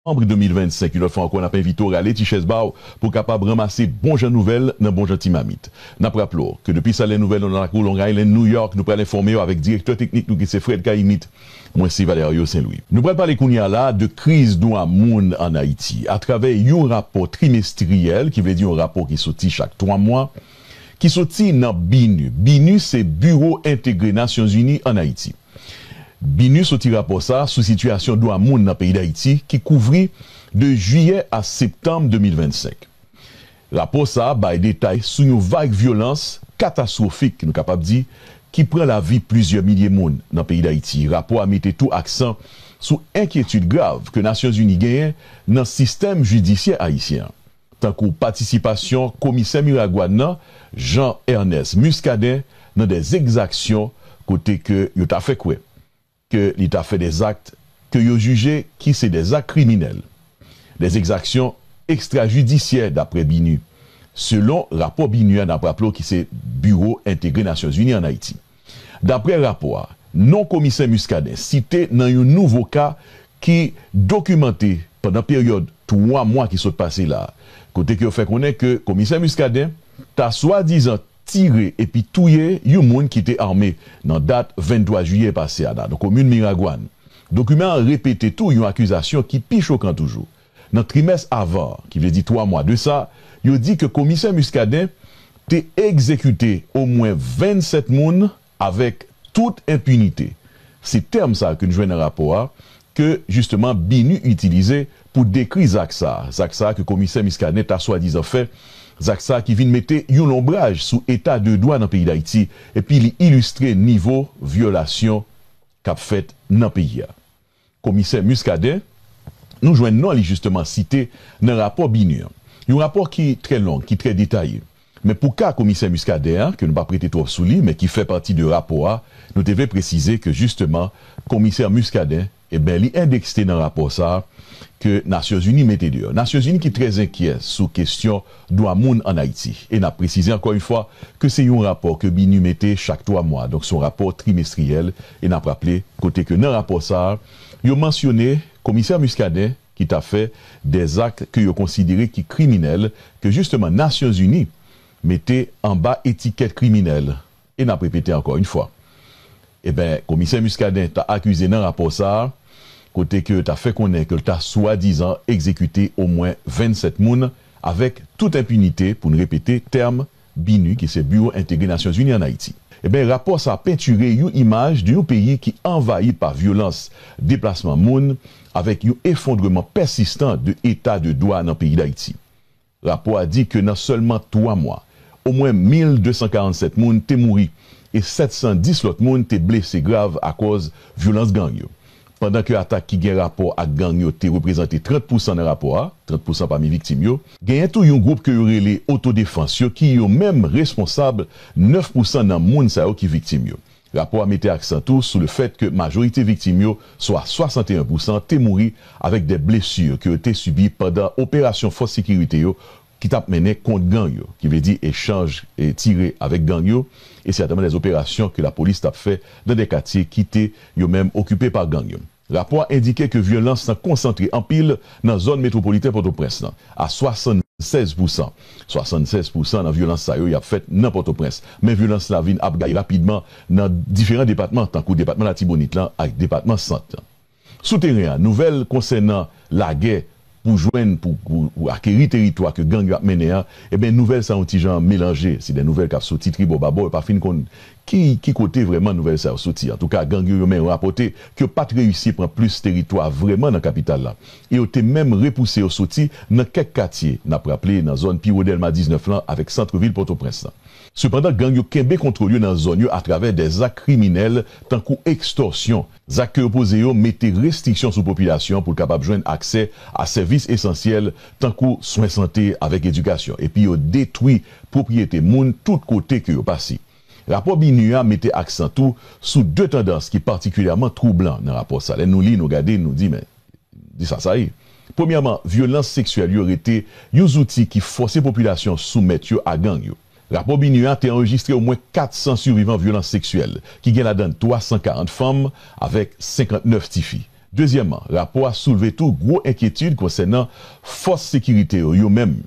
Novanm 2025, yon lòt fwa ankò n ap envite w rale ti chèz ba w pou w kapab ranmase bon jan nouvèl nan bon jan ti mamit. N ap raple w ke depi Salè Nouvèl nan lakou Long Island, New York, nou pral enfòme w avèk direktè teknik nou ki se Fred Cayimit. Mwen se Valerio Saint Louis. Nou pral pale kounye a la de kriz dwa moun an Ayiti atravè yon rapò trimestriyèl, ki vle di yon rapò ki soti chak twa mwa, ki soti nan BINUH. BINUH se Biwo Entegre Nasyonzini an Ayiti. BINUH soti rapò sa sou sitiyasyon dwa moun nan peyi Dayiti ki kouvri de jiyè a septanm 2025. Rapò sa bay detay sou yon vag vyolans katastwofik nou kapab di ki pran lavi plizyè milye moun nan peyi Dayiti. Rapò a mete tou aksan sou enkyetid grav ke Nasyonzini genyen nan sistèm jidisyè ayisyen an. tankou patisipasyon komisè Miragwàn nan, Jean Ernest Muscadin nan dè ekzaksyon kote ke yo ta fè kwè ke li ta fè dè zakt ke yo jije ki se dè zakt kriminèl, dè ekzaksyon ekstrajidisyè daprè BINUH, selon rapò BINUH a nap raple w ki se Biwo Entegre Nasyonzini an Ayiti. Daprè rapò a, non komisè Muscadin site nan yon nouvo ka ki dokimante pandan peryòd 3 mwa ki sot pase la, kote ke yo fè konnen ke komisè Muscadin ta swadizan tire epi touye yon moun ki te ame nan dat 23 jiyè pase a nan komin Miragwàn. Dokiman an repete tou yon akizasyon ki pi chokan toujou, Nan trimès avan an, ki vle di 3 mwa de sa, yo di ke Komisè Muscadin te egzekite omwen 27 moun avèk tout enpinite. Se tèm sa ke n jwenn nan rapò a, ke jisteman BINUH itilize pou dekri zak sa, zak sa ke Komisè Muscadin ta swadizan fè, zak sa ki vin mete yon lonbraj sou eta de dwa nan peyi Dayiti epi li ilistre nivo vyolasyon k ap fèt nan peyi a. Komisè Muscadin, nou jwenn non li jisteman site nan rapò BINUH an. Yon rapò ki trè long, ki trè detaye. Men pou ka komisè Muscadin an, ke nou pa prete twòp sou li, men ki fè pati de rapò a, nou te vle presize ke jisteman komisè Muscadin, eben li endekste nan rapò sa a ke Nasyonzini mete deyò. Nasyonzini ki trè zenkyè sou kestyon dwa moun ann Ayiti. E n ap presize ankò yon fwa ke se yon rapò ke BINUH mete chak twa mwa. Donk se yon rapò trimestriyèl. E n ap raple, kote ke nan rapò sa a, yo mansyone komisè Muscadin ki ta fè dè zak ke yo konsidere ki kriminèl, ke jisteman Nasyon Zini mete anba etikèt kriminèl. E n ap repete ankò yn fwa, e ben komisè Muscadin ta akize nan rapò sa a, kote ke ta fè konnen ke l ta swadizan egzekite omwen 27 moun avèk tout enpinite, pou n repete tèm BINUH ki se Biwo Entegre Nasyonzini an Ayiti. Enben, rapò sa pentire yon imaj de yon peyi ki anvayi pa vyolans, deplasman moun, avèk yon efondreman pèsistan de eta de dwa nan peyi Dayiti. Rapò a di ke nan sèlman 3 mwa, omwen 1,247 moun te mouri e 710 lòt moun te blese grav akòz vyolans gang yo. Pandan ke atak ki gen rapò ak gang yo te reprezante 30 pousan nan rapò a, 30 pousan pami viktim yo, genyen tou yon gwoup ke yo rele otodefans yo ki yo menm responsab 9 pousan nan moun sa yo ki viktim yo. Rapò a mete aksan tou sou le fèt ke majorite viktim yo, swa 61 pousan, te mouri avèk dè blesur ke yo te sibi pandan operasyon fòs sekirite yo ki t ap mennen kont gang yo, ki vle di echanj tire avèk gang yo, e sètèman dè operasyon ke lapolis t ap fè nan dè katye ki te yo menm okipe pa gang yo. Rapò a endike ke vyolans lan konsantre anpil nan zòn metwopoliten Pòtoprens lan, a 76 pousan. 76 pousan nan vyolans sa yo y ap fèt nan Pòtoprens, men vyolans la vin ap gaye rapidman nan diferan depatman tankou depatman Latibonit lan ak depatman Sant lan. Sou teren an, nouvèl konsènan lagè pou jwenn pou pou akeri teritwa ke gang yo ap mennen an, enben nouvèl sa yon ti jan melanje. Se de nouvèl kap soti tribò babò, yo pa fin konn ki ki kote vrèman nouvèl sa yo soti. Antouka gang yo yo menm rapòte ke yo pat reyisi pran plis teritwa vrèman nan kapital la e yo te menm repouse yo soti nan kèk katye, nap raple nan zòn piwo Dèlma 19 lan avèk santre vil Pòtoprens lan. Sepandan gang yo kenbe kontwòl yo nan zòn yo atravè de zak kriminèl tankou ekstòsyon, Zak ke yo poze yo mete restriksyon sou popilasyon pou l kapab jwenn aksè a sèvis esansyèl tankou swen sante avèk edikasyon epi yo detwi pwopriyete moun tout kote ke yo pase. Rapò BINUH a mete aksan tou sou 2 tandans ki patikilyèman twoublan nan rapò sa. Lè nou li, nou gade, nou di men, di sa sa ye. Premyèman, vyolans seksyèl yo rete yon zouti ki fòse popilasyon soumèt yo a gang yo. Rapò BINUH a te anrejistre omwen 400 sivivan vyolans seksyèl, ki gen ladan 340 fanm avèk 59 tifi. Dezyèman, rapò a soulve tou gwo enkyetid konsènan fòs sekirite yo yo menm.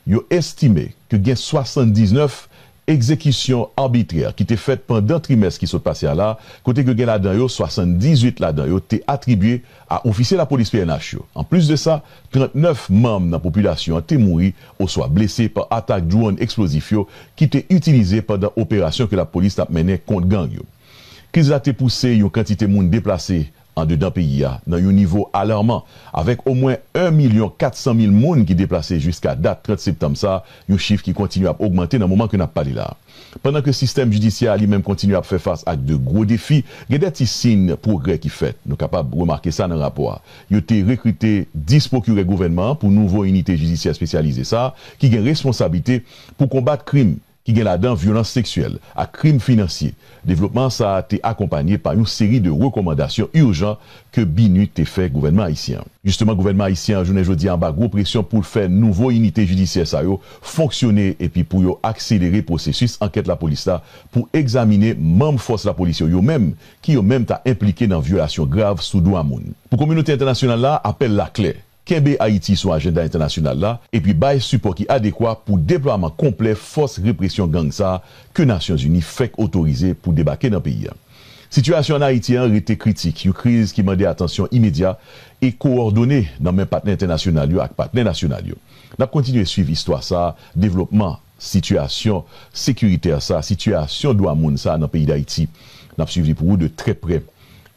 Yo estime ke gen 79 egzekisyon arbitrè ki te fèt pandan trimès ki sot pase a la, kote ke gen ladan yo 78 ladan yo te atribye a ofisye lapolis pnh yo. Anplis de sa, 39 manm nan popilasyon an te mouri oswa blese pa atak dwòn eksplozif yo ki te itilize pandan operasyon ke lapolis t ap mennen kont gang yo. Kriz la te pouse yon kantite moun deplase andedan peyi a nan yon nivo alarman, avèk omwen 1 milyon 400 mil moun ki deplase jiska dat 30 septanm sa, yon chif ki kontinye ap ogmante nan moman ke n ap pale la a. Pandan ke sistèm jidisyè a li menm kontinye ap fè fas ak de gwo defi, gen de ti siyn pwogrè ki fèt. Nou kapab remake sa nan rapò a. Yo te rekrite 10 pwokirè gouvènman an pou nouvo inite jidisyè espesyalize sa a ki gen responsablite pou konbat krim, ki gen ladan vyolans seksyèl ak krim finansye. Devlopman sa a te akonpanye pa yon seri de rekòmandasyon urjan ke BINUH te fè gouvènman ayisyen an. Jisteman gouvènman ayisyen an jounen jodi a anba gwo presyon pou l fè nouvo inite jidisyè sa yo fonksyone epi pou yo akselere pwosesis ankèt lapolis la pou egzamine manm fòs lapolis yo yo menm ki yo menm ta enplike nan vyolasyon grav sou dwa moun. Pou kominote entènasyonal la, apèl la klè. kenbe Ayiti sou ajenda entènasyonal la epi bay sipò ki adekwa pou deplwaman konplè fòs represyon gang sa ke Nasyonzini fèk otorize pou debake nan peyi a. Sitiyasyon an Ayiti an rete kritik, yon kriz ki mande atansyon imedya e kowòdone nan men patnè entènasyonal yo ak patnè nasyonal yo. N ap kontinye swiv istwa sa devlopman. Sitiyasyon sekiritè sa, sitiyasyon dwa moun sa nan peyi Dayiti, n ap swiv li pou ou de trè prè.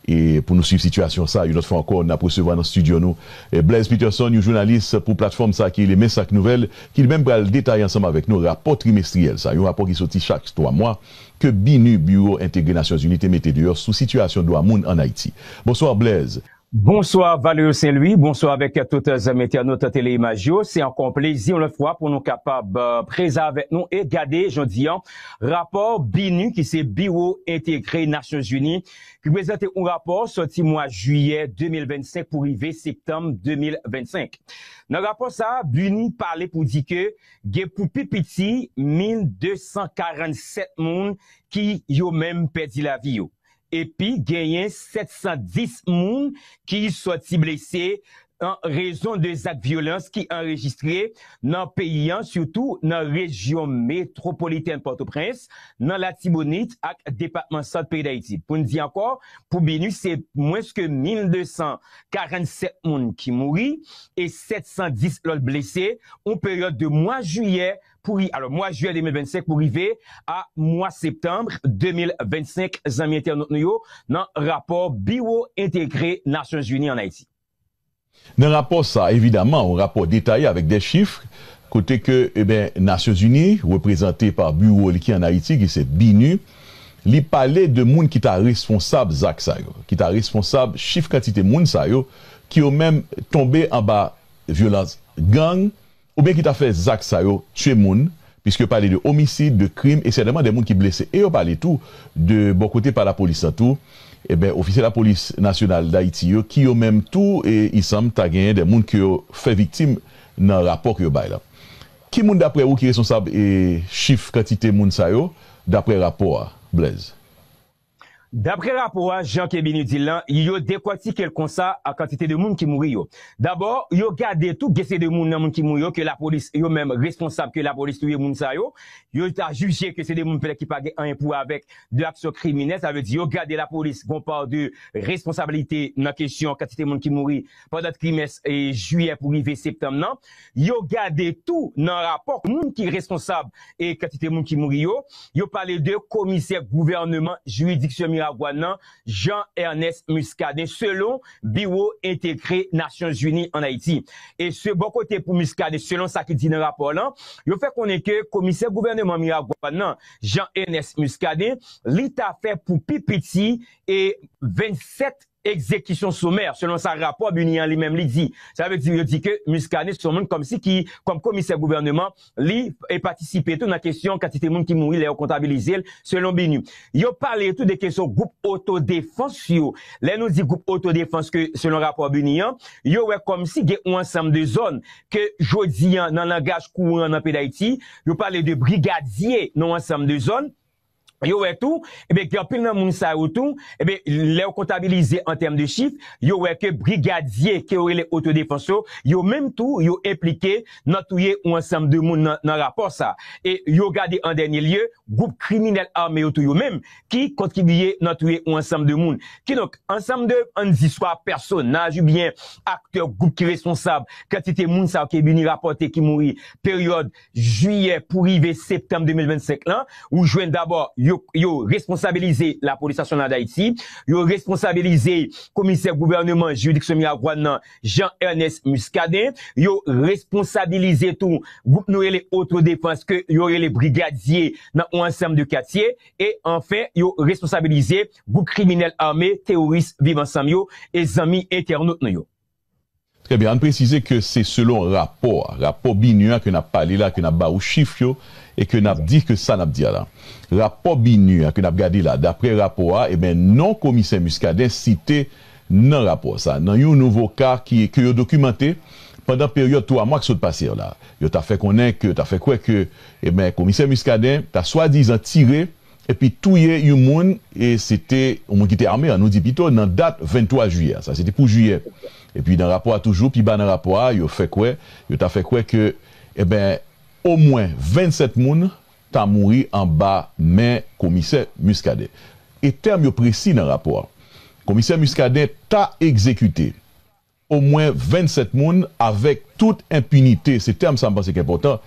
E pou nou swiv sitiyasyon sa, yon lòt fwa ankò, n ap resevwa nan stidyo nou Blaise Peterson, yon jounalis pou platfòm sa ki rele Men Sak Nouvèl, ki li menm pral detaye ansanm avèk nou rapò trimestriyèl sa, yon rapò ki soti chak twa mwa, ke BINUH, Biwo Entegre Nasyonzini, te mete deyò sou sitiyasyon dwa moun an Ayiti. Bonswa Blaise! Bonswa Valerio Saint Louis, bonswa avèk tout zanmi entènot Tele Imaj yo. Se ankò yon plezi yon lòt fwa pou nou kapab prezan avèk nou e gade jodi an rapò BINUH ki se Biwo Entegre Nasyon Zini ki prezante yon rapò sòti mwa jiyè 2025 pou rive septanm 2025. Nan rapò sa a BINUH pale pou di ke gen pou pi piti 1247 moun ki yo menm pèdi lavi yo. epi genyen 710 moun ki sòti blese an rezon de zak vyolans ki anrejistre nan peyi an sitou nan rejyon metwopolitèn Pòtoprens, nan Latibonit ak depatman Sant peyi Dayiti. Pou n di ankò, pou BINUH se mwens ke 1247 moun ki mouri e 710 lòt blese, yon peryòd de mwa jiyè pou ri alò mwa jiyè 2025 pou rive a mwa septanbre 2025 zanmi entènot nou yo nan rapò biwo entegre nasyon zini an ayiti. Nan rapò sa evidaman yon rapò detaye avèk dè chif kote ke eben nasyon zini reprezante pa biwo li ki an ayiti ki se binu li pale de moun ki ta responsab zak sa yo ki ta responsab chif kantite moun sa yo ki yo menm tonbe anba vyolans gang oubyen ki ta fè zak sa yo, tye moun, piske yo pale de omisid, de krim, e sètènman de moun ki blese. E yo pale tou de bò kote pa lapolis la tou, enben ofisye lapolis nasyonal Dayiti yo, ki yo menm tou isanm ta genyen de moun ke yo fè viktim nan rapò ke yo bay la. Ki moun daprè ou ki responsab chif kantite moun sa yo daprè rapò a, Blaise? Dapre rapò a, jan Keby nou di l lan, yo dekòtike l konsa a kantite de moun ki mouri yo. Dabò, yo gade tou gen se de moun nan moun ki mouri yo ke lapolis yo menm responsab ke lapolis touye moun sa yo. Yo ta jije ke se de moun petèt ki pa gen anyen pou wè avèk de aksyon kriminèl. Sa vle di yo gade lapolis gon pa de responsabilite nan kesyon kantite moun ki mouri. pandan trimès jiyè pou rive septanm nan, yo gade tou nan rapò moun ki responsab kantite moun ki mouri yo, yo pale de komisè gouvèneman jiridiksyon Miragwàn nan, Jean Ernest Muscadin, selon Biwo Entegre Nasyon Zini ann Ayiti. E se bò kote pou Muscadin, selon sa ki di nan rapò lan, yo fè konnen ke komisè gouvèneman Miragwàn nan, Jean Ernest Muscadin, li ta fè pou pi piti 27. Ekzekisyon somè, selon sa rapò BUNIH an li menm li di. Sa vle di yo di ke Muscadin se yon moun kòmsi ki, kòm komisè gouvèneman, li patisipe tou nan kesyon kantite moun ki mouri lè yo kontabilize l, selon BUNIH. Yo pale tou de kesyon gwoup otodefans yo. Lè nou di gwoup otodefans ke selon rapò BUNIH an, yo wè kòmsi gen yon ansanm de zòn ke jodi an nan langaj kouran nan peyi Dayiti, yo pale de brigadye nan yon ansanm de zòn, yo wè tou, ebyen gen anpil nan moun sa yo tou, ebyen lè yo kontabilize an tèm de chif, yo wè ke brigadye ke yo rele otodefans yo, yo menm tou yo enplike nan touye yon ansanm de moun nan rapò sa. E yo gade an dènye lye, gwoup kriminèl ame yo tou yo menm ki kontribiye nan touye yon ansanm de moun. Kidonk, ansanm de, an n di swa pèsonaj oubyen aktè gwoup ki responsab kantite moun sa yo ke BINUH rapòte ki mouri peryòd Jiyè pou rive septanm 2025 lan, ou jwenn dabò yo yo responsabilize Lapolis Nasyonal Dayiti, yo responsabilize Komisè Gouvèneman Jiridiksyon Miragwàn nan Jean Ernest Muscadin, yo responsabilize tou gwoup nou rele Otodefans ke yo rele brigadye nan yon ansanm de katye e anfen yo responsabilize gwoup kriminèl ame teworis Viv Ansanm yo e zanmi entènot nou yo. Trè byen, ann presize ke se selon rapò a, rapò BINUH a ke n ap pale la, ke n ap ba ou chif yo e ke n ap di ke sa n ap di a la. Rapò BINUH a ke n ap gade la, daprè rapò a, enben non komisè Muscadin site nan rapò sa, nan yon nouvo ka ki, ke yo dokimante pandan peryòd twa mwa k sot pase yo la. Yo ta fè konnen ke, ta fè kwè ke, enben komisè Muscadin ta swadizan tire epi touye yon moun, e se te yon moun ki te ame an, nou di pito nan dat 23 jiyè a, sa se te pou jiyè, epi nan rapò a toujou, pi ba nan rapò a, yo fè kwè, yo ta fè kwè ke, eben, omwen 27 moun ta mouri anba men komisè Muscadin. E tèm yo presi nan rapò a. Komisè Muscadin ta egzekite. omwen 27 moun avèk tout enpinite, se tèm sa m panse k enpòtan,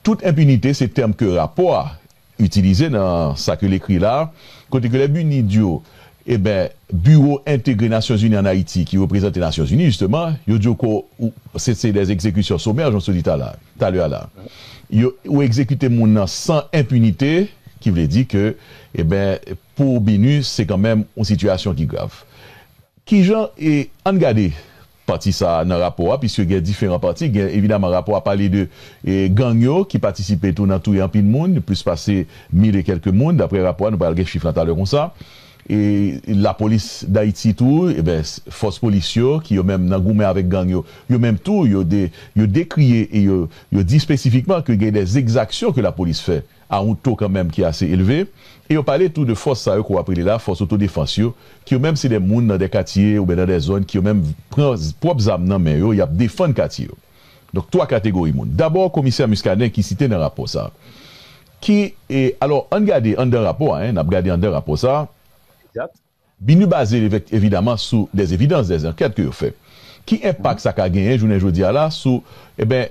tout enpinite se tèm ke rapò a itilize nan sa ke l ekri la, kote ke lè BUNID di yo, eben, Biwo Entegre Nasyonzini an Ayiti ki reprezante Nasyonzini jisteman, yo di yo ke w, se se dè egzekisyon somè, jan w te di tala, talè a la. Yo, ou egzekite moun nan san enpinite, ki vle di ke, eben, pou BINUH se kanmenm yon sitiyasyon ki grav. Ki jan e An n gade pati sa a nan rapò a piske gen diferan pati. Gen evidaman rapò a pale de e gang yo ki patisipe tou nan touye anpil moun, plis pase mil e kèlke moun daprè rapò a. Nou pral gen chif lan talè konsa. E Lapolis Dayiti tou e ben fòs polis yo ki yo menm nan goumen avèk gang yo. Yo menm tou yo de yo dekri e yo yo di espesifikman ke gen dè egzaksyon ke lapolis fè. a yon to kanmenm ki ase elve, e yo pale tou de fòs sa yo ke w ap rele la fòs otodefans yo, ki yo menm se de moun nan de katye ouben nan de zòn ki yo menm pran pwòp zam nan men yo, y ap defann katye yo. Donk 3 kategori moun. Dabò komisè Muscadin ki site nan rapò sa ki e alò ann gade anndan rapò a 1 n ap gade anndan rapò sa a. Egzat. Binu baze evekt evidaman sou des evidans, des ankèt ke yo fè. Ki enpak sa ka genyen jounen jodi a la sou eben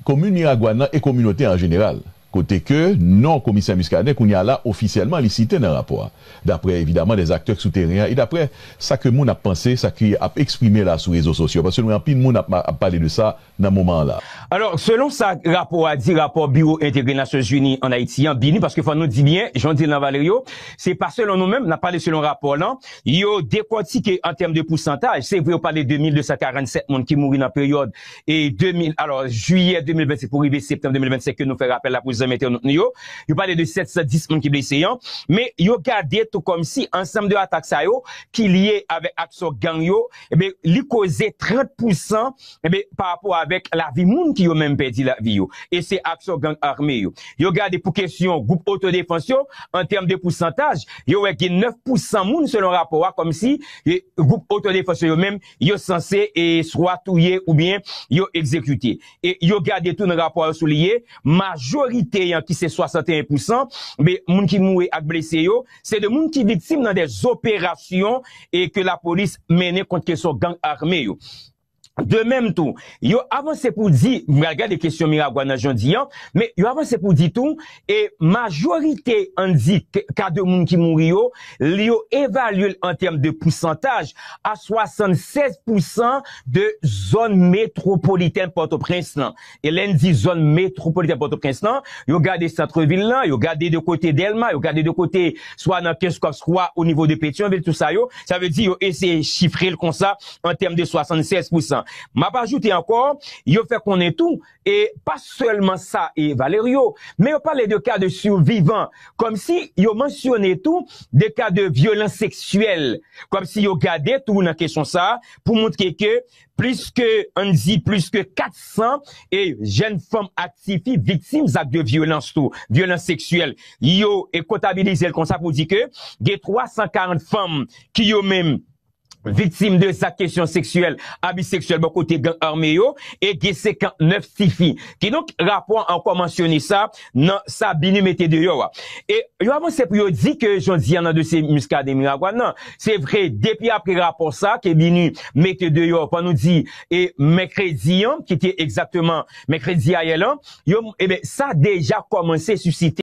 komin Miragwàn nan e kominote an jeneral? Kote ke non komisè Muscadin kounye a la ofisyèlman li site nan rapò a. Daprè evidaman des aktè k sou teren an e daprè sa ke moun ap panse, sa ki ap eksprime la sou rezo sosyo. Paske nou wè anpil moun ap pale de sa nan moman an la. Alò, selon sa rapò a di, rapò Biwo Entegre Nasyon Zini an Ayiti an, BINUH, paske fò nou di byen, jan w di l lan Valerio, se pa selon nou menm, n ap pale selon rapò lan, yo dekòtike an tèm de pousantaj, se vre yo pale de 1,247 moun ki mouri nan peryòd e 2000, alò, jiyè 2025 pou rive septanm 2025 ke nou fè rapèl la pou zanmi entènot nou yo, yo pale de 710 moun ki blese an, men yo gade tou kòmsi ansanm de atak sa yo ki lye avèk aksyon gang yo, enben, li koze 30 pousan. Enben, pa rapò avèk lavi moun ki yo menm pèdi lavi yo, e se aksyon gang ame yo. Yo gade pou kesyon gwoup otodefans yo, an tèm de pousantaj, yo wè gen 9 pou 100 moun selon rapò a kòm si gwoup otodefans yo yo menm yo sanse swa touye oubyen yo egzekite. E yo gade tou nan rapò a yo souliye majorite an ki se 61 pou 100 moun ki mouri ak blese yo, se de moun ki viktim nan de zoperasyon ke lapolis mennen kont kesyon gang ame yo. De mèm tou, yo avanse pou di, m pral gade kesyon Miragwàn nan jan w di an, men yo avanse pou di tou, e majorite ann di ka de moun ki mouri yo, li yo evalye l an tèm de pousantaj a 76 pousan de zòn metwopolitèn Pòtoprens lan. e lè n di zòn metwopolitèn Pòtoprens lan, yo gade santre vil lan, yo gade de kote Dèlma, yo gade de kote swa nan Kenskòf swa o nivo de Petyonvil, tou sa yo, sa vle di yo eseye chifre l kon sa an tèm de 76 pousan. M ap ajoute ankò, yo fè konnen tou, e pa sèlman sa e Valerio, men yo pale de ka de survivan, kòm si yo mansyone tou de ka de vyolans seksyèl, kòm si yo gade tou nan kesyon sa a pou montre ke Plis ke, ann di plis ke 400 e jèn fanm ak tifi viktim zak de vyolans tou, vyolans seksyèl, yo e kontabilize l konsa pou di ke gen 340 fanm ki yo menm viktim de zak kesyon seksyèl, abi seksyèl bò kote gang ame yo e gen 59 tifi. Kidonk rapò an ankò mansyone sa, nan sa BINUH mete deyò a. E yo avanse pou yo di ke jodi a nan dosye Muscadin Miragwàn nan, se vre depi apre rapò sa ke BINUH mete deyò pou nou di e mèkredi an ki te egzakteman mèkredi ayè lan, yo, eben sa deja kòmanse sisite.